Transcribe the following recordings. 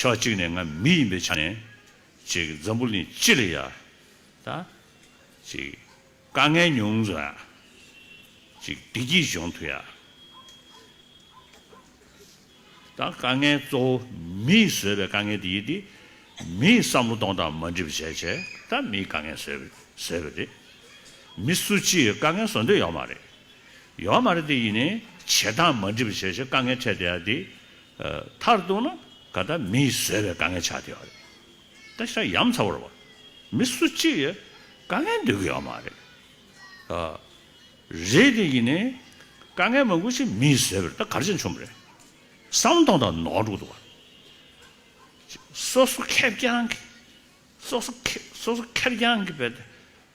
ཕྱོགས་གཅིག་ནས་ང་མི་ཡིན་པའི་ཆ་ནས། འཛམ་བུ་གླིང་སྤྱི་ལ་ཡ། ད། དཀའ་ངལ་ཉུང་ཟོ་ཡ། བདེ་སྐྱིད་འབྱུང་ཐུ་ཡ། ད། དཀའ་ངལ་གཙོ་བོ་མིས་བཟོས་པའི་དཀའ་ངལ་དེ་ཡིན་ཏེ། མིས་བསམ་བློ་གཏོང་སྟངས་མ་འགྲིག་པ་བྱས་བྱས་ད་མིས་དཀའ་ངལ་བཟོས་བཟོས་པ་རེད། མི་སུ་གཅིག་གིས་དཀའ་ངལ་བཟོ་འདོད་ཡོད་མ་རེད། ཡོད་མ་རེད་དེ་ཡིན་ནས་བྱེད་སྟངས་མ་འགྲིག་པ་བྱས་བྱས་དཀའ་ངལ་འཕྲད་བསྡད་ཡ་དེ། མཐར་གཏུགས་ན་ག་ད་མི་ཡིས་བཟོས་པའི་དཀའ་ངལ་ཆགས་བསྡད་པ་རེད། ད་ཤ་ཡམ་ཚ་བོར་བ་མི་སུ་གཅིག་ཡང་དཀའ་ངལ་འདོད་གི་ཡོད་མ་རེད། ཨ་རེད་དེ་ཡིན་ནའི་དཀའ་ངལ་མང་པོ་ཞིག་མི་ཡིས་བཟོས་པར་ད་གར་ཆེན་བྱུང་བ་རེད། ཟམ་གདོང་དང་ནོར་འབྲུག་ཏུ་བ་སོ་སོ་ཁེར་རྐྱང་གིས་སོ་སོ་ཁེར་རྐྱང་གིས་བས་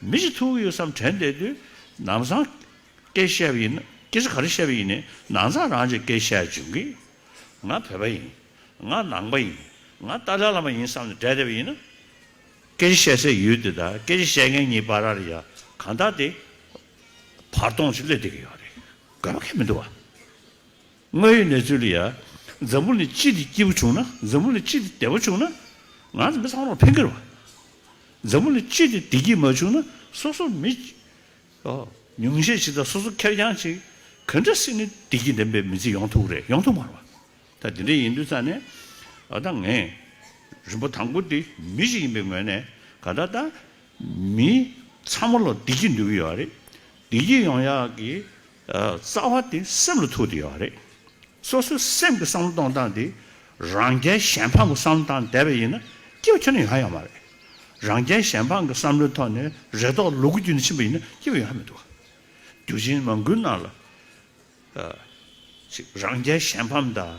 མི་ཞིག་ཐུག་གི་ཡོད་བསམ་དྲན་བསྡད་དུས། ནང་བཟང། སྐད་བཤད་པ་ཡིན་ན། སྐད་ཆ་ག་རེ་བཤད་པ་ཡིན་ནས་ནང་བཟང་རང་གཅེས་སྐད་བཤད་བྱུང་གི། ང་བོད་པ་ཡིན། ང་ནང་པ་ཡིན། ང་ཏཱ་ལའི་བླ་མ་ཡིན་བསམ་ནས་བསྡད་བསྡད་པ་ཡིན་ན། སྐད་ཆ་བཤད་སའི་ཡུལ་དེ་དང་སྐད་ཆ་བཤད་མཁན་གཉིས་བར་ར་ཡ་གང་དག་དེ། བར་སྟོང་ཞིག་སླེབས་བསྡད་ཀྱི་ཡོད་རེད། དགོས་པ་ཁས་མི་འདུག་བ། ང་ཡི་ནེ་ཙོ་ལི་ཡ། འཛམ་བུ་ནི་ཅི་སྟེ་སྐྱིད་པོ་བྱུང་ན། འཛམ་བུ་ནི་ཅི་སྟེ་བདེ་བོ་བྱུང་ན། ང་ཚོ་མི་ཚང་མར་ཕན་ཁེ་རེད་བ། འཛམ་བུ་ནི་ཅི་སྟེ་བདེ་སྐྱིད་མ་བྱུང་ན་སོ་སོ་མི། ཉུང་ཤས་ཅིག་དང་སོ་སོ་ཁེར་རྐྱང་ཅིག། ག་འདྲ་སྲིད་ནི་བདེ་སྐྱིད་ལྡན་པའི་མི་ཚེ་ཡོང་ཐུབ་རེད་ཡོང་ཐུབ་མ་རེད་བ། ད་དེ་འདྲ་ཡིན་དུས་ཙང་ནས། ད་ང། རིན་པོ་ཐང་ཁུ་དེ་མི་ཞིག་ཡིན་པའི་ངོས་ནས་ག་ད་ད། མི། ཚང་མ་ལ་བདེ་སྐྱིད་འདོད་ཀྱི་ཡོད་རེད། བདེ་སྐྱིད་ཡོང་ཡག་གི། རྩ་བ་དེ་སེམས་ལ་ཐུག་དེ་ཡོད་རེད། སོ་སོའི་སེམས་ཀྱི་བསམ་བློ་གཏོང་སྟངས་དེ་རང་རྒྱལ་གཞན་ཕམ་གྱི་བསམ་བློ་དང་འདས་པས་ཡིན་ན་སྐྱེ་བ་ཆེན་ན་ཡོད་ཧ་ཡང་མ་རེད། རང་རྒྱལ་གཞན་ཕམ་གྱི་བསམ་བློའི་ཐོག་ནས་རེ་དོགས་ལུ་གུ་རྒྱུད་ནས་ཕྱིན་པ་ཡིན་ན་སྐྱེ་བ་ཡོད་ཧ་མི་འདུག། དུས་ཆེན་མང་དགུའི་ནང་ལ། རང་རྒྱལ་གཞན་ཕམ་དང།